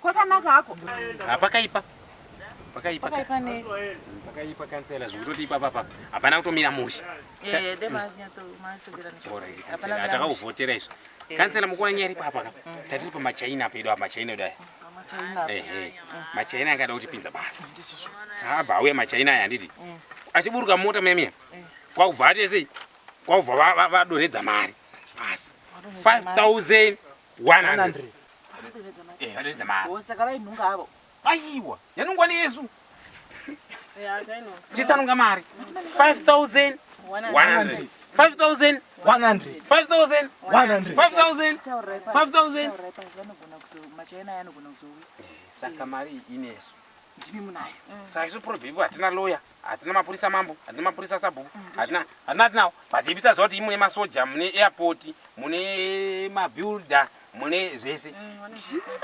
Kwakanaka hako. Hapakaipa. Ah, pakaipa pakaipa kansela zvekutoti ipapa papa hapana kutomira musha eh, hmm. atakauvhotera izvo eh, kansela mukuona nyaya iripo apaka hmm. tatiri pamachaina pedu apa machaina edu aya ehe machaina anga ada kutipinza basa saabva auya machaina aya handiti hmm. achiburuka mota mayamiya eh. kwakubva atesei kwavha vadoredza mari pasi 5100 vadoredza mari saka vainhunga avo aiwa yanungwa neyesu chisanunga mari 5100 5100 saka mari inesu ndimi munayo saka isu probable hatina lawyer hatina mapurisa mambo hatina mapurisa sabhuku hatina hatina tinawo but ibisa zoti mune masoja mune airport mune mabuilder mune zvese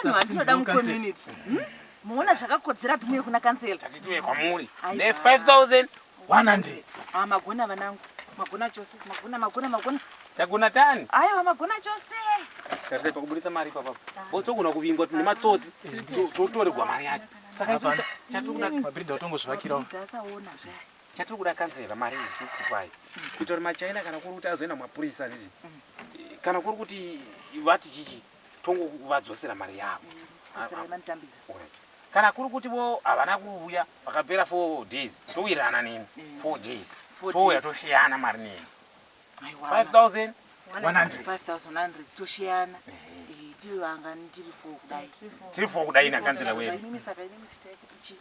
Vanhu vatinoda mucommunity. Hmm? Muona zvakakodzera kuti muye kuna kansela. tati tiuye kwamuri Aiwa. ne5100 Ah, magona vanangu. Magona chose. Magona magona magona. tagona tani Aiwa magona chose. tarisai pakuburitsa mari ipapapo botogona kuvingwa tine matsotsi totorerwa mari yacho Saka hapana chatiri kuda mabhiridha otongozvivakirawo. Chatiri kuda kanzera mari iyi tiri kukupai kuita kuti machaina kana kuri kuti azoenda mapurisa zizi kana kuri kuti vati chichi tongovadzosera mari yavo kana kuri kuti vo havana kuuya vakapera four days towirirana nemi four days touya tosiyana mari nemi 5100 tosheyana tiri vangani tiri fo kudai tiri fo kudai nakanzira wedu saka ini muchitai kuti chii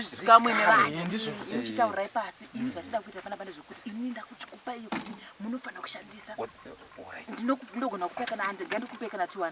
zvikamwenevaimuchitaurai pasi ini zvatida kuita pana pane zvekuti ini ndakuti kupai yekuti munofanira kushandisa ndinogona kupai kana 100 ndandikupai kana 200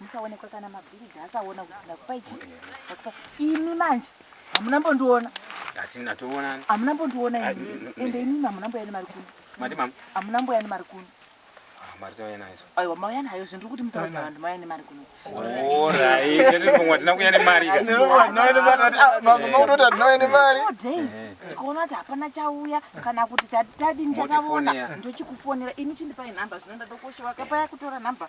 musaonekwa kana mabhiridha akaona kuti ndakupa ichi ndakupa imi manje hamuna mbondiona hatina toonani hamuna mbondiona ah, imi ende imimi hamuna mboya nemari kuno mati mama hamuna mboya nemari kuno aiwa mauya nayo zve ndiri kuti musaudza vanhu mauya nemari kuno tikaona kuti hapana chauya kana kuti chatadini chataona ndochikufonera ini chindipai nhamba zvino ndadokoshewa kapaya kutora nhamba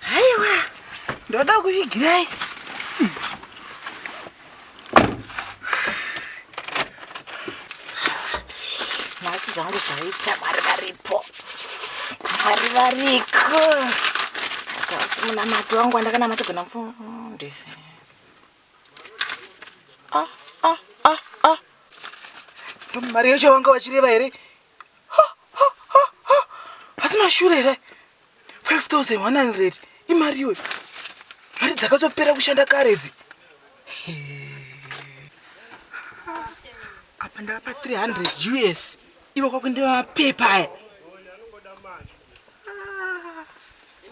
haiwa ndoda kuvigirai nhasi zvangu zvaita mwari varipo mwari variko asi munamato wangu wandakanamata gona mfundisi ah, ah, ah, ah. ndomari yocho wanga vachireva here asi mashure here 5100 imari iwe mari dzakazopera kushanda kare dzi apa ndavapa 300 us ivo kwakuindiva mapepa aya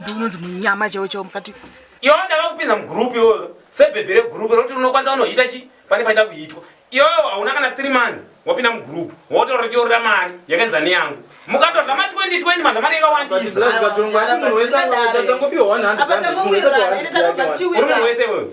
ndinonzi munyama chaiwo chaiwo mukati iwawo ndava kupinza mugroup iwoyo sebhebhi regroup rokuti unokwanisa kunoita chi pane paida kuitwa iwawo hauna kana three months wapinda mugroup wotaura kuti yorora mari yakaenza neyangu mukatodla ma 2020 madla mari yakawandisa Aiwa, mudhara, but zvingadaro. uri munhu wese iwoyo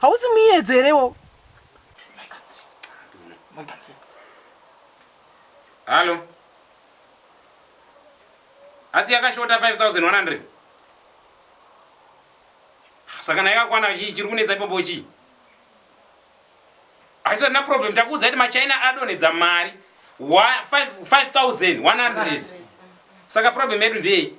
hausi muyedzo here iwowo halo asi yakashota 5100 saka na yakakwana chii chiri kunetsa ipapo chii haisi na problem takuudza kuti machina adonhedza mari 5100 saka problem yedu ndeyei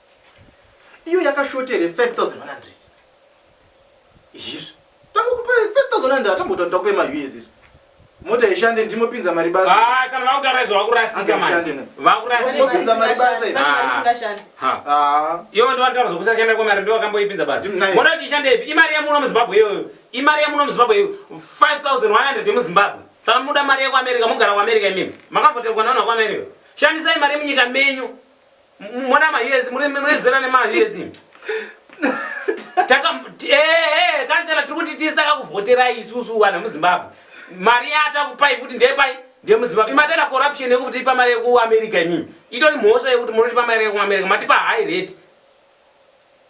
iyo yakashota here 5100 izvi tangokupa 5100 hatambotaura takupa ma us izvo mota ishande ndimopinza mari basa ah, kana vakutaura izvo vakurasika manje vakurasika mari basa iyo ah. ah. ndovataura zvokusashanda kwemari ndovakamboipinza basa mona kuti ishande ipi imari yemuno muzimbabwe iyoyo imari yemuno muzimbabwe iyo 5100 yemuzimbabwe saka muda mari yekuamerica mogara kuamerica imimi makavoterwa naona kuamerica shandisai mari yemunyika menyu Mwana mahiyezi muri muri zera nemahiyezi. Taka eh eh kansela tiri kuti tisa kakuvhotera isusu vanhu muZimbabwe. Mari yata kupai futi ndepai ndemuZimbabwe. Imatera corruption yekuti ipa mari yeku America imimi. Itori mhosva yekuti muri pa mari yeku America matipa high rate.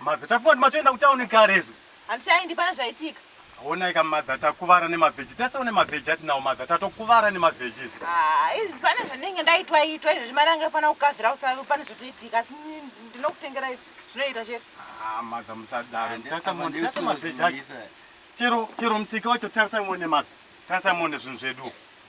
Mabveta foni matoenda kutauni kare izvo. Hanti aindi pane zvaitika. Honai ka mother takuvara nemavheji tese une mavheji atinawo mother tatokuvara nemavheji izvi. Ah, izvi pane zvandinenge ndaitwa itwa izvi mari anga ifanira kukavhira usave pane zvatoitika asi ndinokutengera izvi zvinoita chete. Ah, mother musadaro. Tese mone tese mavheji acho. Chero chero musika wacho tarisai mone mother. Tarisai mone zvinhu zvedu.